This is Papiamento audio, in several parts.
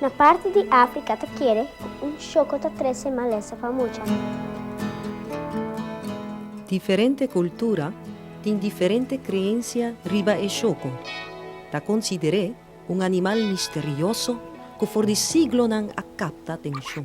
Na parti di Africa ta kere cu un choco ta trece malesa pa mucha. Diferente cultura tin diferente creencia riba e choco. Ta considere un animal misterioso cu for di siglonan a capta atencion.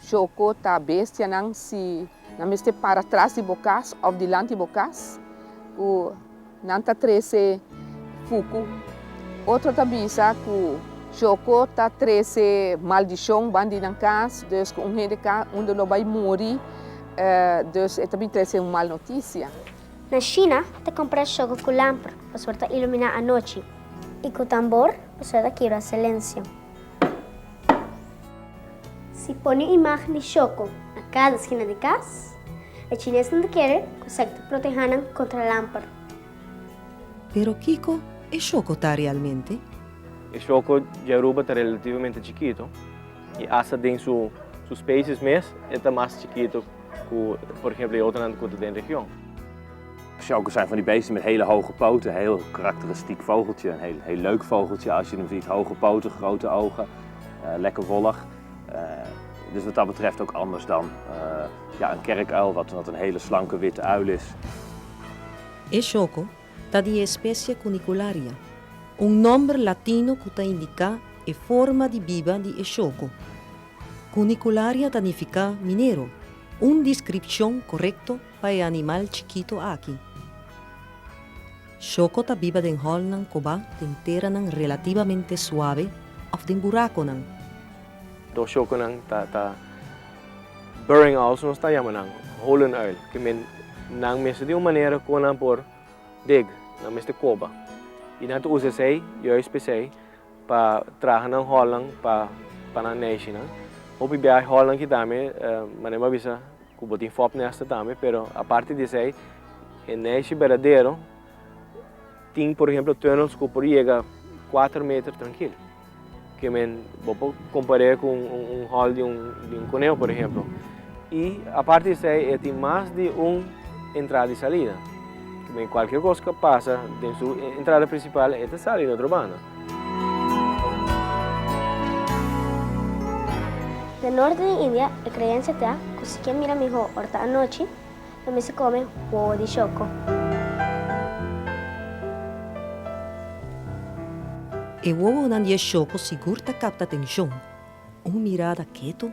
Choco ta bestianan si nan mester para tras di bo cas of dilanti bo cas cu nan ta trece fucu. Otro ta bisa cu Choco ta trece maldicion ban di nan cas, dus cu un hende ca unda lo bay muri, dus e ta bin trece un mal noticia. Na China ta compra Choco cu lamper pasobra ta ilumina anochi y cu tambor pasobra ta kibra silencio. Si pone imagen di shoko na casa esquina di cas, e chines nan ta kere cu esaki ta proteha nan contra lamper. Pero kico e shoko ta realmente? E shoko dje Aruba ta relativamente chikito y hasta den su species mes e ta mas chikito cu por ehemplo e otronan cu ta den region. Schalkers zijn van die beesten met hele hoge poten, heel karakteristiek vogeltje, een heel, heel leuk vogeltje als je hem ziet, hoge poten, grote ogen, lekker wollig. Dus wat dat betreft ook anders dan ja, een kerkuil, wat, wat een hele slanke witte uil is. E shoco ta di e specie Cunicularia, un nomber latino cu ta indica e forma di biba di e shoco. Cunicularia ta nifica minero, un discripcion corecto Pa e animal chikito aki. Shoko ta biba den hòlnan kobá, den teranan relativamente suabe òf den burakonan. Dos shokonan ta burrowing owls, nos ta yama nan holen uil, ke men nan mester tin un manera kon nan por dig, nan mester koba. I nan ta usa esei, juis p'esei, pa traha nan hòlnan pa nan nèshinan. Hopi biaha e hòlnan kita mi mane'e bo a bisa. Ku bo tin fop nèster tambe, pero aparte di esei, e nèshi berdadero tin por ehemplo tunnels ku por yega kuater meter trankil. Ke men bo por kompar'é ku un hòl di un koneho por ehemplo. I aparte di esei e tin mas di un entrada i salida. Kualker kos ke pasa den su entrada prinsipal e ta sali na otro banda. Na norte di India e kreensia ta ku si ke mira mihó ora ta anochi, lo mester kome wowo di shoko. E wowonan di e shoko sigur ta kapta atenshon. Un mirada ketu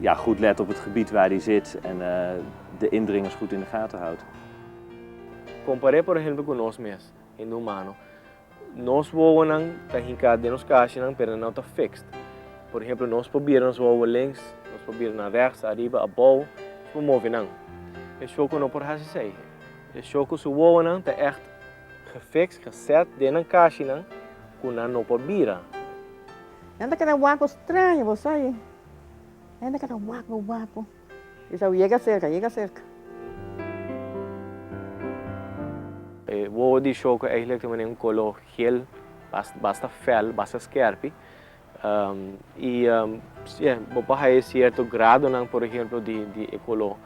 Ja goed let op het gebied waar die zit en de indringers goed in de gaten houdt. Comparé por ejemplo cu nos mes, hende humano. Nos wowonan ta hinca den nos cashinan pero no ta fixed. Por ejemplo nos pabier nos wowo links, nos pabiernan rechts, ariba, abao, nos por move nan. E shoku no por haci esey. E shoku su wowonan ta echt gefixed, geset, den nan cashinan cu nan no por bira. Nan ta keda waku straño, bo sa ayi? Nan ta keda waku, waku. Isao, Yega serka, yega serka. E wowo di shou ku eihlik tin manera un kolo hel, basta fel, basta skèrpi. I sier, bo por haña e sierto gradonan, por ehemplo, di e kolo.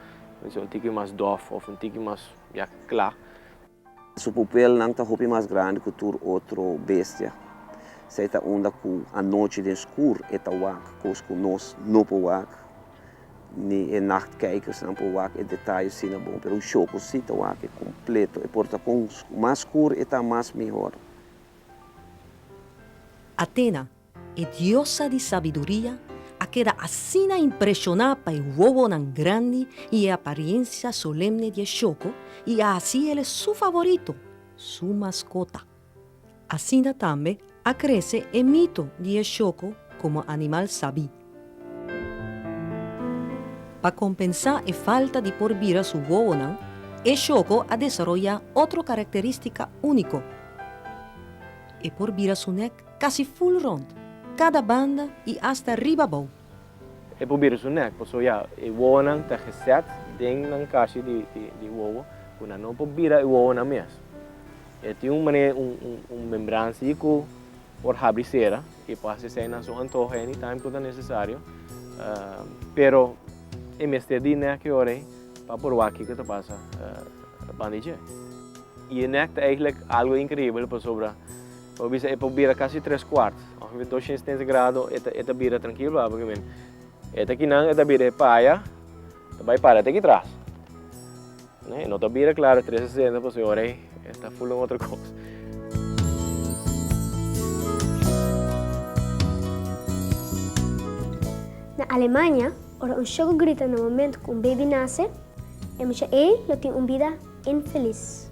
Lo mester un tiki mas dòf òf un tiki mas ya kla. Su pupelnan ta hopi mas grandi ku tur otro bestia. Esei ta unda ku anochi den skur e ta wak kos ku nos no por wak. Ni e nachtkijkersnan por wak e detaye asina bon, pero un shoko si ta wak e kompleto. E por ta kon mas skur e ta mas mihor. Athena, E diosa di sabiduria a keda asina impreshoná pa e wowonan grandi i e apariensia solemne di e shoko i a hasi el e su favorito, su maskota. Asina tambe a krese e mito di e shoko komo animal sabí. Pa kompensá e falta di por bira su wowonan, e shoko a desaroyá otro karakterístika úniko, e por bira su nèk. Casi full rond, cada banda y hasta riba abou. E proberen su nek, paso ya e wowonan ta geset den nan cashi di wowo cu nan no por bira e wowonan mes. E tin un mane un membransi cu por habri y cera y por haci esey nan su antoho any time cu ta necesario, pero e mester di nek e ora ey pa por wak kico ta pasa banda dje. Y e nek ta eigenlijk algo increibel pasobra. Bo bisa e por bira casi tres cuart, ongeveer doscientos setenta grado e ta e ta bira trankil pa porque men e ta kinan e ta bira e paya ta bay para te ki tras neh e no ta bira claro trescientos sesenta pasobra e ora ey e ta full un otro cos. Na Alemania ora un shoko grita na momento cu un baby nace e mucha ey lo tin un bida infeliz.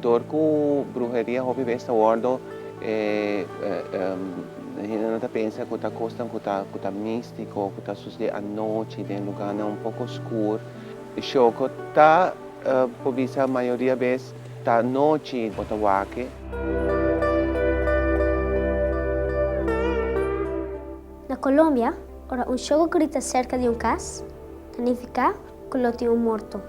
Dor ku bruheria hopi bes ta wòrdu e hende nan ta pensa ku ta kosnan ku ta ku ta místiko, ku ta sosodé anochi den lugánan un poko skur. Shoko ta por bisa mayoria bes ta anochi bo ta wake. Na Colombia, ora un shoko grita serka di un kas, ta nifiká cu lo tin un morto.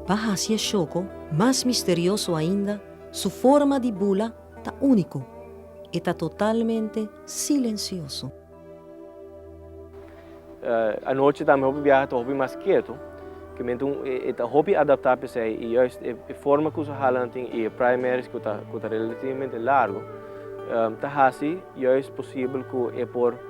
Pa haci e shoko mas misterioso ainda, su forma di bula ta unico, e ta totalmente silencioso. Anochi tambe hopi biaha ta hopi mas keto, kimente e ta hopi adapta pesey y juist e forma cu su hala nan tin y e primaries cu ta relativamente largo ta haci juist posibel cu e por.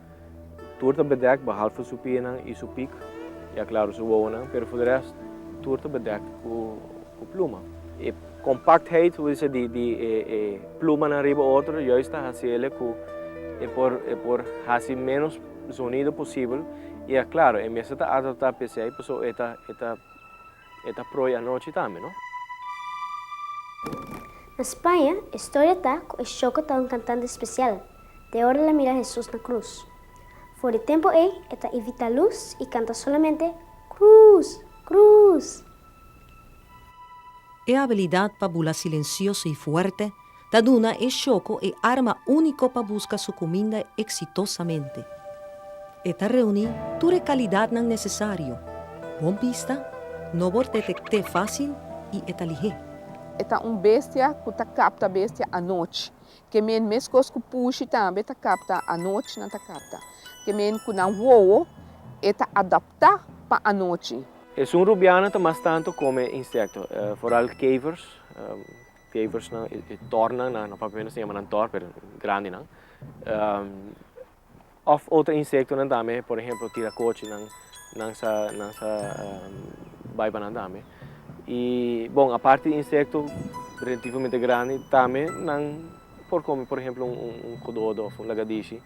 Tur ta bedekt behalve su pienan i su pik, ya klaro su wowonan, pero for de rest tur ta bedekt ku pluma. E kompaktheid, bo ta bisa di di e plumanan riba otro, juist ta hasi el ku e por e por hasi ménos zonido posibel, i ya klaro e mester ta adaptá p'esei, pasobra e ta e ta e ta proi anochi tambe, no? Na Spaña, e storia ta ku e shoko ta un kantante spesial. te ora el a mira Hesus na krus. For di tempu ei, e ta ivitá lus i kanta solamente, Krus! Krus! E abilidat pa bula silensioso i fuerte ta duna e shoko e arma úniko pa buska su kuminda eksitosamente. E ta reuní tur e kalidatnan nesesario, bon bista, no por detekt'é fásil i e ta lihé. E ta un bestia ku ta kapta bestia anochi. Kemé meskos ku pushi tambe ta kapta anochi nan ta kapta. Kemé ku nan wowo e ta adaptá pa anochi. Esun rubiana ta mas tantu kome insekto, foral kevers, keversnan i tornan, na papia nos ta yama nan tor pero grandi nan. Of otro insektonan tambe, por ehemplo tirakochinan, nan sa nan sa bai pa nan tambe. I bon aparte di insekto relativamente grandi tambe nan por kome por ehemplo un un un kododo of un lagadishi.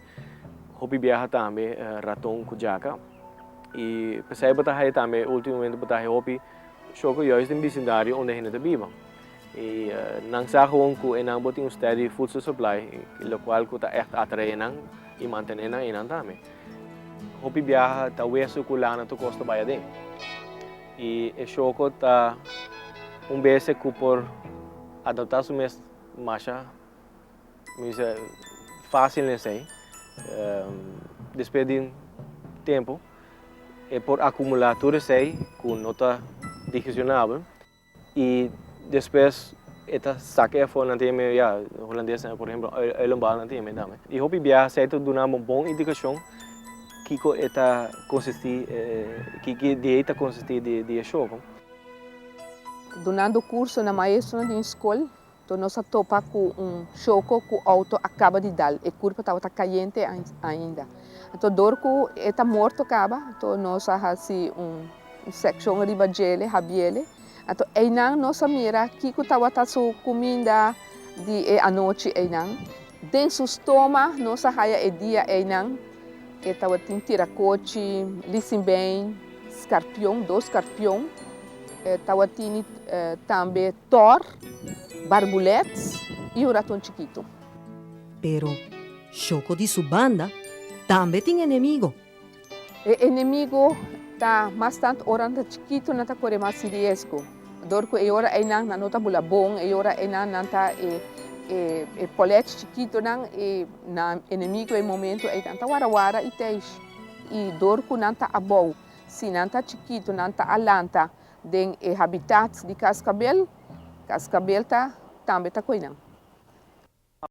Hopi biaha tambe raton ku jaka. I pesai bo ta haña tambe ultimomente bo ta haña hopi shoko yos den bisindario unda hende ta biba. Y nan sa gewoon cu enan bo tin un steady voedsel supply, locual cu ta echt atrae enan y mantene nan enan tambe. Hopi biaha ta weso cu lana tokoos ta bay aden. Y e shoko ta un beste cu por adapta su mes masha, mi dice, facil n'esey. Despues di un tempo e por acumula tur esey cu no ta digesionabel. I despues e ta saka afó nan tin me ya holandes nan por ehemplo uilenbal nan tin me dame i hopi biaha esei ta duna bo bon indikashon kiko e ta konsistí kiko di e ta konsistí di e showko. Dunando kurso na maestro nan den skol. Toa nos a topa cu un choco cu auto a caba di dal. E curpa tabata cayente ainda. Anto door cu e ta morto caba, anto nos a haci un seccion riba djele, habiele. Anto eynan nos a mira kico tabata su cuminda di e anochi eynan. Den su stoma nos a haya e dia eynan e tabatin tiracochi, lisinbein, scarpion, dos scarpion. E tabatini tambe tor. Barbulet i un raton chikitu. Pero Shoko di su banda tambe tin enemigo. E enemigo ta mas tant ora nan ta chikitu nan ta kore mas si riesgo. Dor ku e ora einan nan no ta bula bon, e ora einan nan ta e polèch chikitunan i na enemigo e momentu ei nan ta wara wara i teish. I dor ku nan ta abou, si nan ta chikitu nan ta alanta den e habitat di kaskabel, kaskabel ta tambe ta koinan.